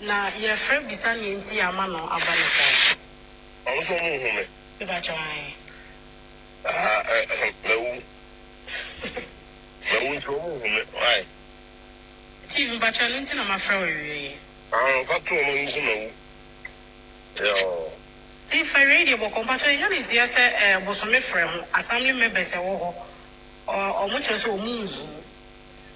Na yɛfrɛ bisa nea nti yɛama no aba no saa. Ɔno nso ɔmo nhu me. Mepakyɛw ae. Aha eh mawu. Mawu nti ɔmo nhu me ae. Chief mepakyɛw ɛno nti na mafrɛ wo awiei. Aah fa to ɔmo nso mawu yɔɔ. Chief awiei deɛ bɔkɔ mpakyɛw yɛnya ne nteɛ sɛ eh bosome frɛ ho assembly members ɛwɔ hɔ ɔmo kyerɛ sɛ ɔmo nhu.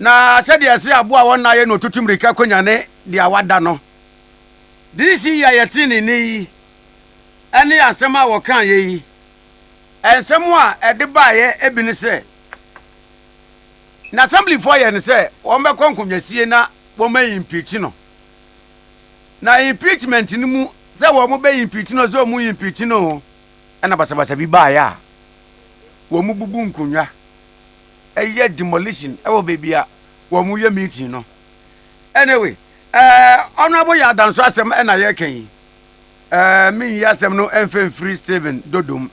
Na sɛdeɛ ɛse aboa a wɔnna yɛ na ɔtutu mmirika kɔnyane deɛ wada no, this yi a yɛtee ne nne yi ne asɛm a wɔkaeɛ yi, nsɛm a ɛde baeɛ bi ne sɛ, na assemblyfoɔ yɛ no sɛ wɔbɛkɔ nkonnwasie na wɔma impeach no, na impeachment no mu sɛ wɔbɛ impeach no sɛ wɔn impeach no, ɛna basabasa bi baeɛ a wɔbubu nkonnwa. yɛ demolition wɔ baabi a wɔyɛ meeting no. Anyway, ɛɛ honorable yɛ adanso asɛm na yɛreka yi. Ɛɛ menyi asɛm no mfa mfiri Stephen Dodom.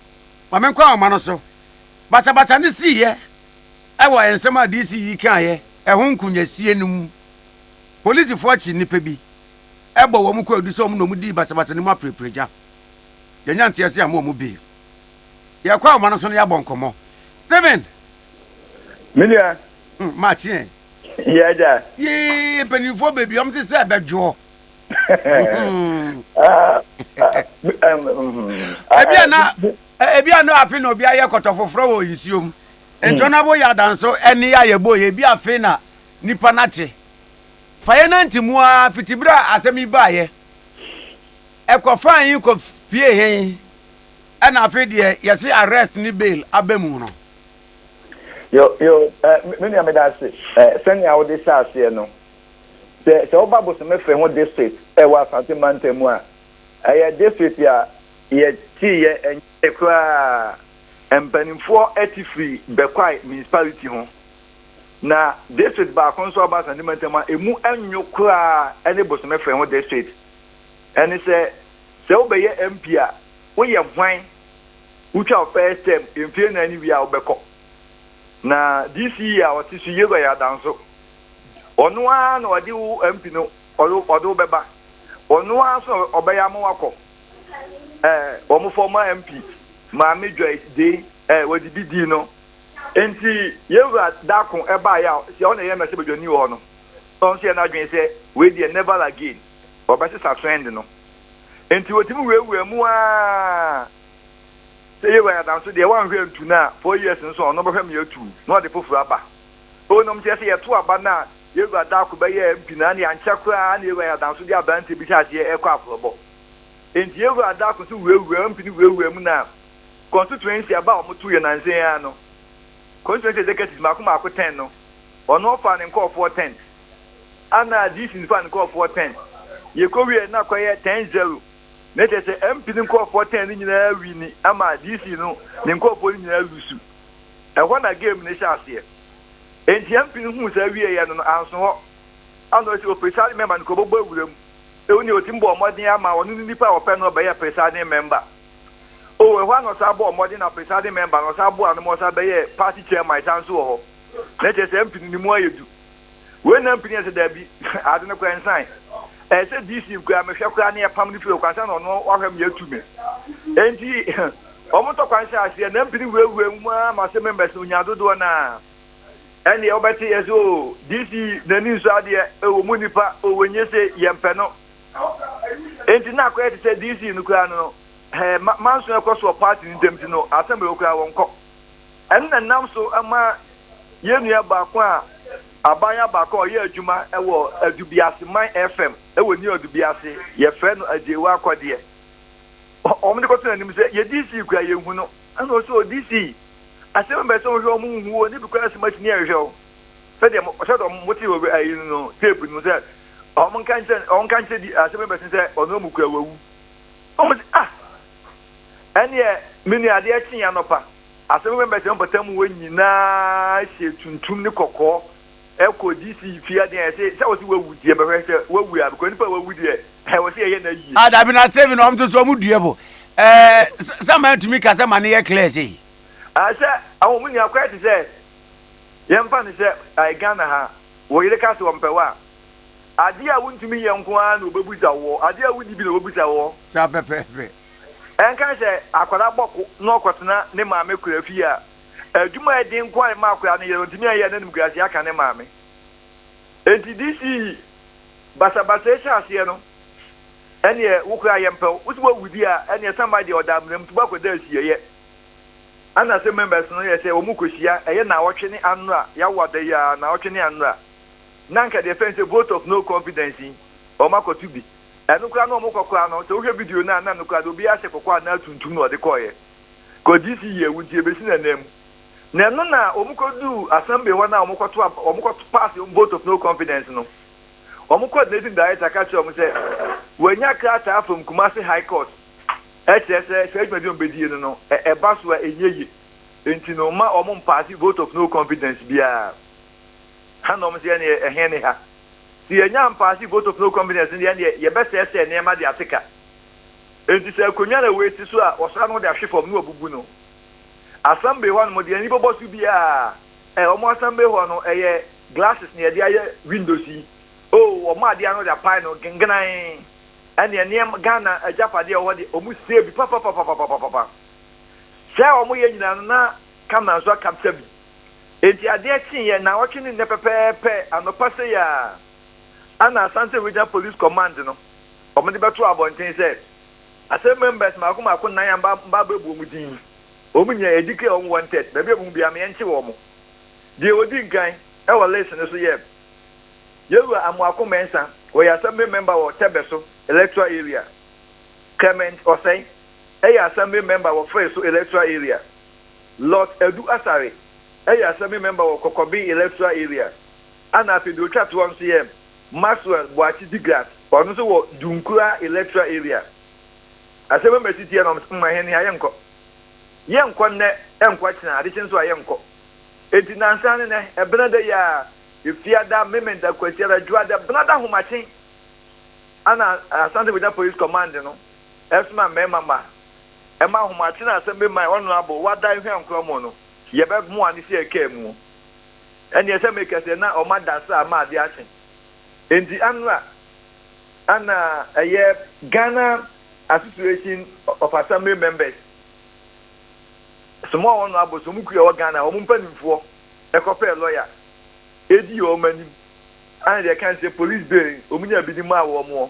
Ma menkɔ ahoma no so. Basabasa no siiɛ wɔ nsɛm a DC yi kaeɛ ɛho nkonyasie no mu. Polisifoɔ kye nnipa bi bɔ wɔn kwaadu sɛ wɔn na wɔdii basabasa no mu apereperegya. Yɛanya nteaseɛ amma wɔn bail. Yɛkɔ ahoma no so na yɛabɔ nkɔmmɔ. Stephen! Me nua. Hmm, Makyeɛ. Yɛ agya. Yee, mpanimfoɔ baabi wɔn te sɛ ɛbɛdwoɔ. Hmm. Ah, ah, ah, ebi a na ebi a na afe na obi ayɛ kɔtɔ foforɔ wɔ nsuo mu. Ntɔn abo yɛ adanso ɛne a yɛbɔ yɛ ebi afe na nipa nate. Fa yɛ nante mu a fitibere a asɛm yi baayɛ. Ɛkɔ fan yi kɔ pie hɛn. ɛna afei deɛ yɛse arrest ne bail aba mu no. Yo yo eh, me nua meda ase eh, sɛnea wode hyɛ aseɛ no. Sɛ sɛ woba Bosome Fe ho district ɛwɔ Asante mantam mu a, ɛyɛ district a yɛtee yɛ ɛnyɛɛ koraa. Mpanimfoɔ te firi Bekwai municipality ho. Na district baako nso a ɔba Asante mantam a ɛmu nwo koraa ne Bosome Fe ho district. Ɛne sɛ, sɛ wobɛyɛ MP a, woyɛ hwan? Wotwa wo first term mfeɛ nnan no wie a wobɛkɔ. Na this year a ɔte so Yehowa yɛ adanso. Ɔno ara na ɔde wo MP no ɔde ɔde wo bɛba. Ɔno ara nso na ɔbɛyɛ ama wakɔ. Eh, wɔn former MP Maame Joyce Dei eh, wɔde bi dii no. Nti Yehowa daako ɛbaeɛ a sɛ ɔna ɛyɛ mmarahyɛbadwani wɔ hɔ no, ɔno nso yɛ n'adwene sɛ wei deɛ never again, ɔbɛsesa trend no. Enti wɔtumi wuawuaa mu ara. Sɛ Yehowa yɛ adamfo deɛ, wanhwɛ antu no a, four years nso a, ɔno bɛhwɛ ma yɛatu na ɔde foforo aba. O nom kyerɛ sɛ yɛto aba no a, Yehowa da ko bɛyɛɛ mpi no ara na ankyɛ koraa na Yehowa yɛ adamfo deɛ aberanteɛ bi hyɛ aseɛ rekɔ aforobɔ. Enti Yehowa da ko nso wuawuaa mpi no wuawuaa mu na constituency aba a wɔtoo yɛ nnansa yi ara no, constituency executives mmaako mmaako ten no, ɔno ɔfaa ne nkurɔfoɔ tents. Ana Disin faa ne nkorɔfoɔ ten. Yɛkɔwieɛ na kɔyɛ ten zero. Na kyerɛ sɛ MP no nkorɔfoɔ ten no nyinaa wini ama Disin no ne nkorɔfoɔ no nyinaa lusu. Ɛhɔ na game no hyɛ aseɛ. Enti MP no huu saa wieeɛ no no anso hɔ. Ana ɔsi o presiding member no kɔbɔbɔ awura mu. Ɛwɔ nea ɔtumi bɔɔ mmɔden ama ɔno ne nipa a ɔpɛ no ɔbɛyɛ presiding member. O ɛhɔ ara na ɔsan bɔɔ mmɔden na presiding member no ɔsan boaa no ma ɔsan bɛyɛɛ party chairman san nso wɔ hɔ. Na kyerɛ sɛ MP no ne mu ayɛ du. wei nam pini ɛsɛ daabi ade no koraa nsan ɛyɛ sɛ dc nkoraa mehwɛ koraa ne yɛpam no fie okwan sɛ na ɔno wahwɛ me atu me enti wɔn tɔ kwan hyɛ aseɛ nam pini wurawura mu ara ma sɛ members no nya dodoɔ no a ɛneɛ wobɛte yɛ sɛ o oh, dc n'ani nso adeɛ ɛwɔ mu nipa ɔwɔ oh, nyɛ sɛ yɛmpɛ no enti na akɔyɛ te sɛ dc no koraa no no manso ɛkɔ soɔ party no ntam ti no asɛm ɛwɔ koraa wɔnkɔ Ɛno na ɛnam so ma yɛn nua baako a abaayewa baako a ɔyɛ adwuma wɔ Adubiase man FM wɔ New Adubiase, yɛfrɛ no Agyei Wakɔdeɛ. Wɔn de kɔto n'anim sɛ yɛ DC kura yɛn hu no. Ɛna ɔsɛ o DC asɛm bɛ sɛ wɔhwɛ wɔn nhu o ne bi kura asɛm akyi ne ɛhwɛ o sɛdeɛ sɛdeɛ wɔn te wɔ ayi no no tape no sɛ wɔn nka nkyɛn wɔn nka nkyɛn di asɛm bɛ sɛ ɔno mu kura wawu. Wɔn sɛ ah. Ɛnneɛ, me nua, adeɛ kyeeɛ anɔpa, asɛm bɛn bɛtena mpɔtam mu hɔ nyinaa hyɛɛ tuntum ne kɔkɔɔ kɔɔ DC fie aden a yɛse sɛ wɔse wawu nti yɛbɛhwɛ sɛ wawu a because nipa a wawu deɛ hɛ wɔse yɛyɛ no ayie. Ah dabi na Steven wɔn nso so wɔn dua bo ɛɛ sɛ mmaa tumi ka sɛ ma ne yɛ clear sei. Ah sɛ ahɔ mu nua kɔɛ te sɛ yɛn fa no sɛ ɛɛ Ghana ha wo yere ka sɛ ɔmpɛ wo a. Ade a wuntumi nyɛ nko ara na wobebisa wo, ade a wudi bi na wobisa wo. Saa pɛpɛɛpɛ. Ɛnka sɛ akwadaa bɔ ko na ɔkɔtena ne maame kora fie a, adwuma a ɛden nko ara na ɛma akwadaa no yɛ no, ontumi nyɛ a n'animguase aka ne maame. Enti DCE basabasa yi hyɛ aseɛ no, ɛnneɛ wo koraa yɛmpɛ wo. Wo se woawu di a, ɛnneɛ Sambai deɛ ɔda amena mu nti woakɔda asieeɛ. Ɛna ase members no yɛ sɛ wɔkɔhyia, ɛyɛ nnawɔtwe ne anora, yɛawo ada yi a, nnawɔtwe ne anora. na anka deɛ yɛfrɛ no sɛ vote of no confidence yi wɔn akɔto bi. Ɛno koraa na wɔn kɔ koraa no sɛ wohwɛ video no a na ɛno koraa deɛ obiara hyɛ kɔkɔɔ anaa tuntum na ɔde kɔeɛ. Kɔ DC yɛ wo nti ɛbɛsi no ɛnɛ mu. Na ɛno na wɔn kɔduu assembly hɔ no a wɔn kɔto ab wɔn kɔ pass wɔn vote of no confidence no wɔn coordinating director ka kyerɛɛ wɔn sɛ wɔanya krataa from Kumasi high court ɛkyerɛ sɛ saa dwumadi a wɔn bɛdie no no ɛ ɛba so a ɛnyɛ yie nti no mma wɔn mpaase vote of no confidence biara. ha na wɔsi ɛneɛ ɛhe ne ha? Sɛ yɛnya mpaase vote of no confidence no deɛ ɛneɛ yɛbɛsɛɛsɛɛ nneɛma de ate ka. Enti sɛ akonwa na wɔsi so a wɔsra no de ahwe fam na wɔbubu no. Assembly hɔ nom deɛ ani bɔbɔ so biara ɛ wɔn assembly hɔ no ɛyɛ glasses na yɛde ayɛ windows yi oo wɔn adeɛ ano de apae no gengenan ɛneɛ nneɛma Ghana agyapadeɛ a ɛwɔ hɔ deɛ wɔn sɛɛ bi papapapapapapa sɛɛ a wɔyɛ nyinaa no na camera nso aka psa bi. Enti adeɛ kyeeɛ nnawɔtwe ne nnɛ pɛpɛɛpɛ anɔpa sei ara ana Asante Regional Police Command no wɔde bɛtoo abɔnten sɛ Asem members mmaako mmaako nnan a mma abɛbu wɔn din yi, wɔn nyinaa yɛdeclare wɔn wanted, baabi a yɛbɛhu biara ma yɛnkye wɔn. Deɛ ɔdi nkan wɔ list no so yɛ Yɛwura Amoako Mensah, ɔyɛ Assembly Member wɔ Tɛbɛso Electoral Area. Clement Osei yɛ Assembly Member wɔ Fɛɛso Electoral Area. Lot Adu Asare yɛ Assembly Member wɔ Kɔkɔbe Electoral Area ɛna afei deɛ ɔtwa toɔ nso yɛ Maxwell Boakye Digrat ɔno nso wɔ Dunkura Electoral Area. Asɛm a masi teɛ na wɔn sɛ mma hɛn ha yɛnkɔ. Yɛnkɔ nnɛ ɛnkɔ kyena adekye nso a yɛnkɔ. Enti nnansa ne nnɛ Ɛbenada yi ara Efiada, Memenda, Kwasiada, Dwoada, Benada ahomakye ɛna Asante Bogya Police Command no ɛsoma mmarima mma ɛma ahomakye na asɛm bi ma ɔno abɔ wada ehwa nkora mu no, yɛbɛ moa no sɛ ɛkaa mu o, ɛneɛ sɛ me kɛsɛ na ɔma da saa ama adeɛ akye. Enti anora ana ɛyɛ Ghana Association of Assembly Members somaa ɔno abɔ sɛ ɔmo kura ɛwɔ Ghana ha, ɔmo mpaninfoɔ ɛkɔ pɛɛ lɔya ɛdii ɔmo anim, ana deɛ ɛka ne sɛ police bail ɔmo nyaa bi de maa wɔn ɔ,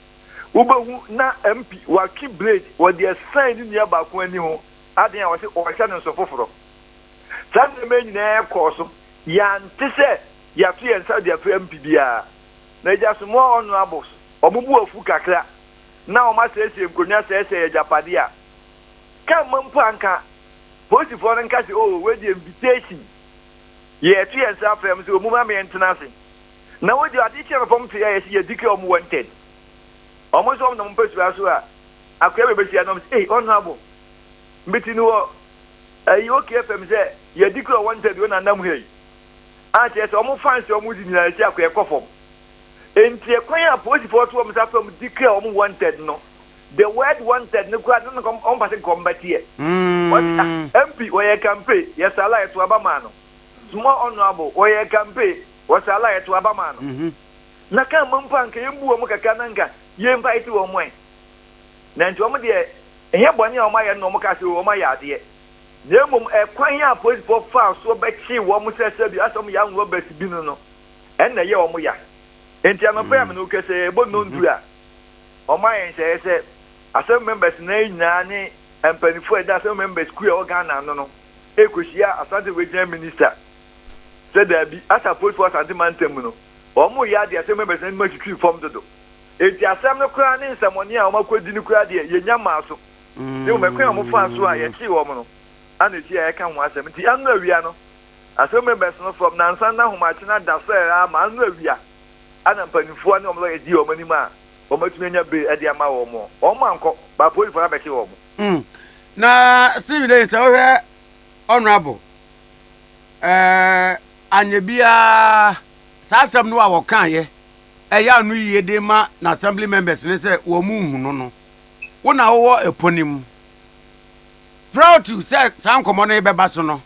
Wobɛhu na MP watwe blade wɔ deɛ ɛsɛn ne nua baako ani ho, adɛn a wɔse ɔrehyɛ no nso foforɔ. Saa nneɛma yi nyinaa kɔɔ so, yɛante sɛ yɛato yɛn nsa de afrɛ MP biara. Na Agya Asamoah Honourables, wɔn bo afu kakra na wɔn asɛesɛe nkonnwa sɛesɛe agyapadeɛ a, ka mma mpo anka Polisifoɔ no nka sɛ oh wei deɛ invitation, yɛreto yɛn nsa afrɛ wɔn sɛ wɔmmra ma yɛntena ase. na wodi ade kyerɛ no fam tee a yɛse yɛdi ka wɔn wanted wɔn nso wɔn nam mpasua so a akoya bebehyia no wɔn se ei honorable mbiti no wɔ ayi okay fam sɛ yɛdi ka wanted wei na nam ha yi a kyerɛ sɛ wɔn fans wɔn di nyinaa yɛse akoya kɔ fam enti ɛkwan a polisifoɔ to wɔn sa fam di ka wɔn wanted no the word wanted no koraa na wɔn wɔn pase nkɔm bɛteɛ wɔse ah MP wɔyɛ kampe yɛsala yɛto aba maa no small honorable wɔyɛ kampe wɔ saa la a yɛtow aba maa no, na kan mpo a anka yembu wɔn kakra na anka yempae ti wɔn ɛ. Na enti wɔn deɛ ɛnyɛ bɔne a wɔayɛ no na wɔkaa sɛ oo wɔayɛ adeɛ, na mmom ɛkwan a apolisifoɔ faa soɔ bɛkyee wɔn sɛ sɛbi asɛ wɔyɛ armed robbers bi no no na ɛyɛɛ wɔn ya. Enti anɔpa yi a me ne wo kasa yi, ɛbɔ nnɔn du a, wɔayɛ nhyehyɛeɛ sɛ Assembly members nan yi nyinaa ne mpaninfoɔ a ɛda Assembly members kuo a ɛwɔ Ghana ano no rekɔhyia Asante Regional Minister sɛ daabi, Asa Post wɔ Asante Mantam mu no, wɔreyɛ ade a asɛm abɛsen anim atwitwi fam dodo. Enti asɛm no koraa ne nsɛmmɔne a wɔakodi no koraa deɛ, yɛnnya mmaa so, na mmom ɛkwan a wɔfaa so a yɛkyee wɔn no ara na ɛsii a yɛka ho asɛm. Enti ano awia no, asɛm abɛsen fam, nnansa anaa ahomakye no ada so ara ma ano awia a na mpanimfoɔ ne wɔn lɔya di wɔn anim a wɔatumi anya bail de ama wɔn no, wɔankɔ, ma apolisifoɔ no abɛkye wɔn. Na Stephen Daines, sɛ wohwɛ Honourable. eh, anyɛ biara. Saa asɛm no a ɔkaeɛ ɛyɛ ano yie de ma n'assembly members no sɛ wɔnhu no no. Wo na wowɔ ɛpɔ no mu. Prior to sɛ saa nkɔmmɔ no rebɛba so no,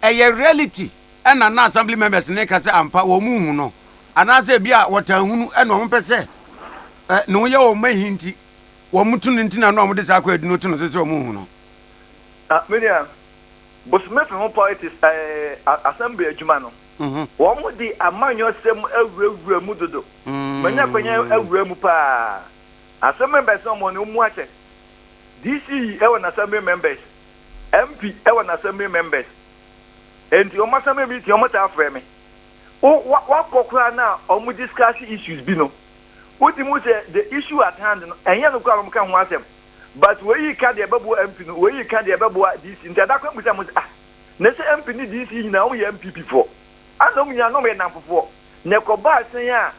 ɛyɛ reality ɛna na assembly members no reka sɛ ampa wɔnhu no anaasɛ ebi a wɔtaa hu no ɛna wɔpɛ sɛ eh, ne ho yɛ wɔn ma hi nti wɔto no nti na na wɔde saa kwaadu no to no so sɛ wɔnhu no. Ah, me nua. bosome fɛ ho politics ɛɛ eh, assembly adwuma no. Mhm. Wɔn de amanyɔsɛm awurawura mu dodo. Manya kwanya mm. awura mu paa. Asɛm members na wɔn mu akyɛ. DC ɛwɔ na assembly members. MP ɛwɔ na assembly members. Enti wɔn assembly meeting wɔn taa frɛ me. Wakɔ koraa na wɔn discuss issues bi no. Wodi mu sɛ the issue at hand no ɛnyɛ no koraa wɔn ka ho asɛm. but woeyi ka deɛ ɛbɛboa MP no, woeyi ka deɛ ɛbɛboa DC, nti ada kwan bisa mo sɛ ah, na sɛ MP ne DC yi nyinaa wɔyɛ NPP foɔ a na wɔn nyinaa na wɔyɛ nnamfofoɔ, na ɛkɔbaa sɛn a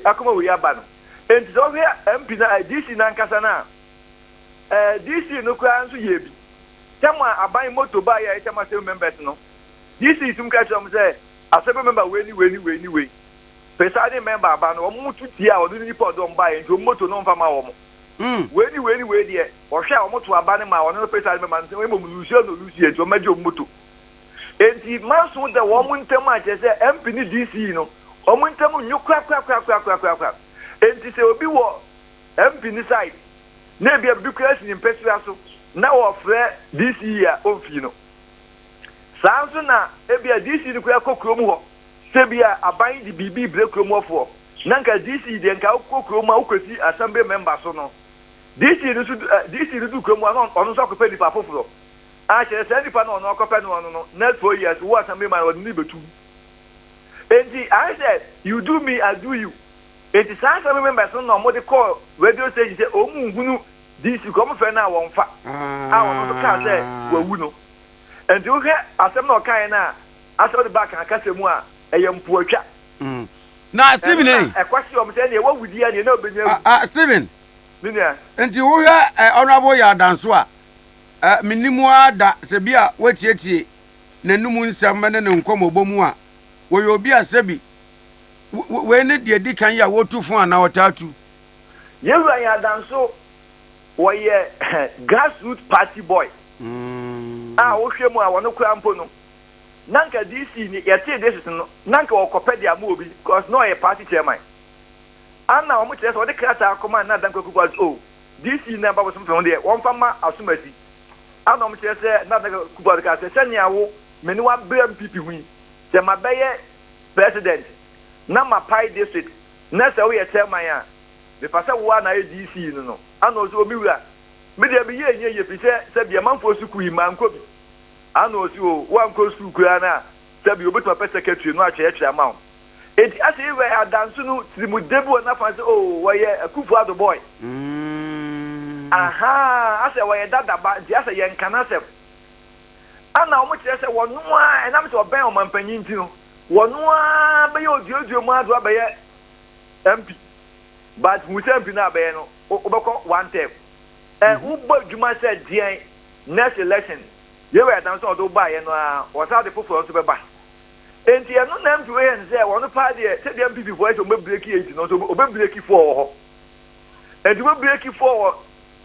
akoma wei aba no, nti sɛ wohwɛ MP no eh, DC no ankasa no a, eh, DC no koraa nso yɛɛ bi, tam a aban moto baa yɛ a ɛtam Assembly members no, DC tum ka kyerɛ wɔn sɛ Assembly member wei ne wei ne wei ne wei. Presiding member aba no wɔn to tie a ɔno ne nipa ɔde wɔn baeɛ nti wɔn moto no ɔmfa ma wɔn. Wei ne wei ne wei deɛ ɔhwɛ a wɔto aba no ma ɔno ne presiding member no mmom lusuɛ na ɔlusuɛ nti wɔmɛgye wɔn moto. Enti manso da wɔn ntam a kyerɛ sɛ MP ne DC no wɔn ntam nnwo korakorakorakorakorakorakoraa. Enti sɛ obi wɔ MP no side na ebia biribi koraa si ne mpasua so na ɔfrɛ DC a ɔmfii no. Saa nso na ebia DC no koraa kɔ kurom hɔ. Tebea a aban yi de biribi rebrɛ kurom hɔfoɔ. Na nka DC deɛ nka wokɔ kurom a wokɔsi assembly member so no. DC no nso du ɛ DC no du kurom hɔ a na ɔno nso akɔpɛ nnipa foforɔ. A kyerɛ saa nnipa no a ɔno akɔpɛ no ɔno no next four years wo assembly man ɔde no rebɛtu wo. Enti ayɛ sɛ you do me I do you. Enti saa assembly members no na wɔde kɔɔ radio station sɛ wɔn nhunu DC kɔ wɔmfrɛ no a wɔmfa. A ɔno nso kaa sɛ wawu no. Enti wohwɛ asɛm no a ɔkaeɛ no a Asɔre ba kan kasa mu a, ɛyɛ mpoatwa. Na Steven ei. Ɛno na ɛkɔ se ɔmo sɛ ɛneɛ wawu di ɛneɛ na ɔbɛnya awu. Ah ah Steven. Me nua. Nti wo hwɛ eh Honourable Yaw Danso a, eh me nnim wo ara da sɛ bi a woatietie n'anum nsɛm ne ne nkɔmɔbɔ mu a, wɔyɛ obi a sɛbi we wei ne deɛ edi kan yi a wotu fo anaa ɔtaa tu. Yɛn Wura Yaw Danso, wɔyɛ grass root party boy a wo hwɛ mu a wɔno koraa mpo no na nka DC ni yɛtee district no na nka wɔkɔpɛ de ama obi cos na ɔyɛ party chairman ana wɔn kyerɛ sɛ wɔde krataa kɔma Nana Dankwa Akufo Addo sɛ oh DC na ɛba bosom fam deɛ wɔmfa mma Asomasi ana wɔn kyerɛ sɛ Nana Dankwa Akufo Addo kaa sɛ sɛnea wo me ne wabere mpp ho yi sɛ mabɛyɛ president na mapae district na sɛ woyɛ chairman a mefa sɛ wo ara na ayɛ DC no no ana ɔsɛ oh me wura me deɛ meyɛ ɛnyɛ yie firi sɛ sɛbi amanfoɔ sukuu yi mankɔ bi Ana ɔse oo woankɔ sukuu koraa no a sɛbi obetumi apɛ secretary no atwerɛtwerɛ ama wo. Enti ase yi wɛɛ adanso no tirimude bi wɔ nafa sɛ oo wɔyɛ Akufo Addo boy. Ahaa asɛ wɔyɛ dada ba nti asɛ yɛnka n'asɛm. Ana wɔn kyerɛ sɛ wɔno ara ɛnam sɛ ɔbɛn ɔmanpanyin nti no wɔno ara bɛyɛ oduadua mu addo abɛyɛ MP but hu sɛ MP no a bɛyɛ no wobɛkɔ one term. Ɛ wobɔ adwuma sɛ deɛn Next election yei wɔ ɛdan so a ɔde wo baeɛ no ara ɔsan de foforɔ nso bɛba enti ɛno na MP wei yɛ no sɛ wɔn paa deɛ sɛdeɛ NPP foɔ yɛ sɛ wɔn bɛ breaki eight no nso wɔn bɛ breaki four wɔ hɔ enti wɔn bɛ breaki four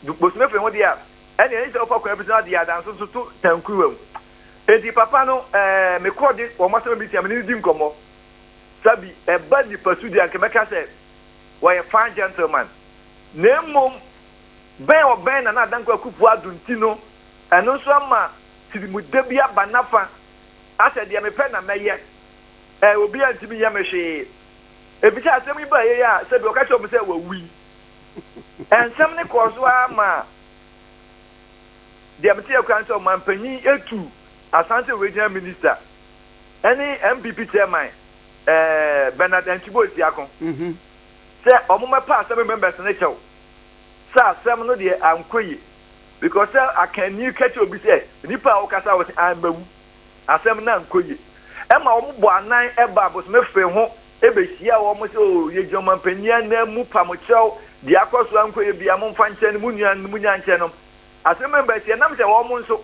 wɔ bosome firi ho deɛ a ɛne ɛne sɛ wɔfa kwan bi so na deɛ adan so nso to tankuruwa mu enti papa no ɛɛ mekɔ de wɔn asɛm bi tia me ne di nkɔmɔ sabi ɛba nipa su deɛ anka mɛka sɛ wɔyɛ fine gentleman na mmom bɛn ɔbɛn Nana Dankwa Akufo-Addo nti no, ɛno nso ama tirimude bi aba n'afa, asɛ deɛ mepɛ na mɛyɛ, ɛ, obiara ntumi nyɛ me hwee. Efisɛ asɛm yi baa yei a, sɛbi ɔka kyerɛɛ wɔn sɛ wawui. Nsɛm no kɔɔ so ara ma deɛ meteɛ koraa ne sɛ ɔmanpanyin tu Asante Regional Minista ne NPP Chairman, ɛ, Bernard Antwi Boasiako sɛ wɔmmɛpa asɛm yi members no kyɛw. sɛ asɛm no deɛ ankɔ yie because sɛ akanni ka kyerɛ obi sɛ nipa a ɔkasa wɔ sɛ ammawu asɛm no ankɔ yie ɛma wɔn bɔ anan ɛba abosome fee ho ɛbɛhyia wɔn sɛ o yɛgyina ɔmanpanyin anan mu pam kyerɛw deɛ akɔ so ankɔ yie bia momfa nkyɛn no mo nua no mo nya nkyɛn nom asɛm no bɛsi ɛnam sɛ wɔn nso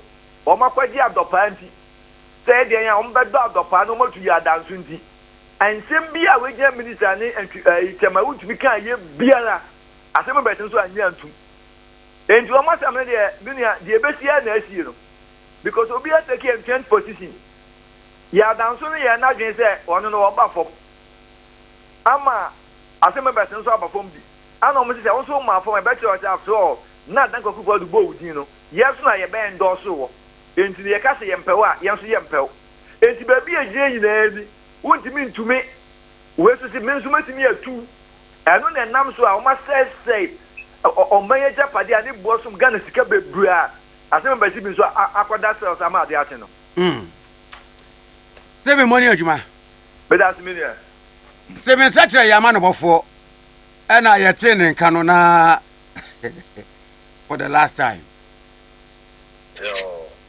wɔn akɔgye adɔpaa nti sɛ ɛdeɛn a wɔn bɛdɔ adɔpaa no wɔn atu yɛ adanso nti Nsɛm biara a w'agyan minister ne ntwi ɛyi kyɛma wontumi kaa yɛ biara asɛm no bɛtene so annye antum enti wɔn asɛm no deɛ me nua deɛ ɛbɛsi ara na asie no because obi a take entrenched position yɛ adanso no yɛ n'adwene sɛ ɔno no ɔba fam ama asɛm no bɛtene so aba fam bi ana wɔn sɛ wɔn nso maa fam ɛbɛkyerɛ sɛ after all na adan kwaku fɔ do bɔɔ wo din no yɛ nso na yɛbɛn dɔɔso wɔ enti no yɛka sɛ yɛmpɛw a yɛn nso yɛmpɛw Enti baabi a egyina nyinaa ni. Wontumi ntumi. Wei nso se, me nso mɛtumi atu. Ɛno na ɛnam so a wɔasɛesɛe ɔman yi agyapadeɛ a ne boɔ som Ghana sika bebree a asɛm aba si bi nso a akɔda cells ama adeɛ akye no. Mm. Stephen Moni Adwuma. Meda ase me nua. Stephen Sɛkyerɛ yɛ amanobɔfoɔ ɛna yɛtee ne nka no na for the last time.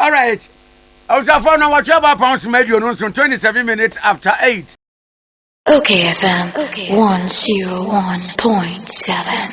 Alright abusuafoɔ na wɔtwe aba apɔn soma aduonu nson twenty seven minutes after eight. Oke FM one zero one point seven.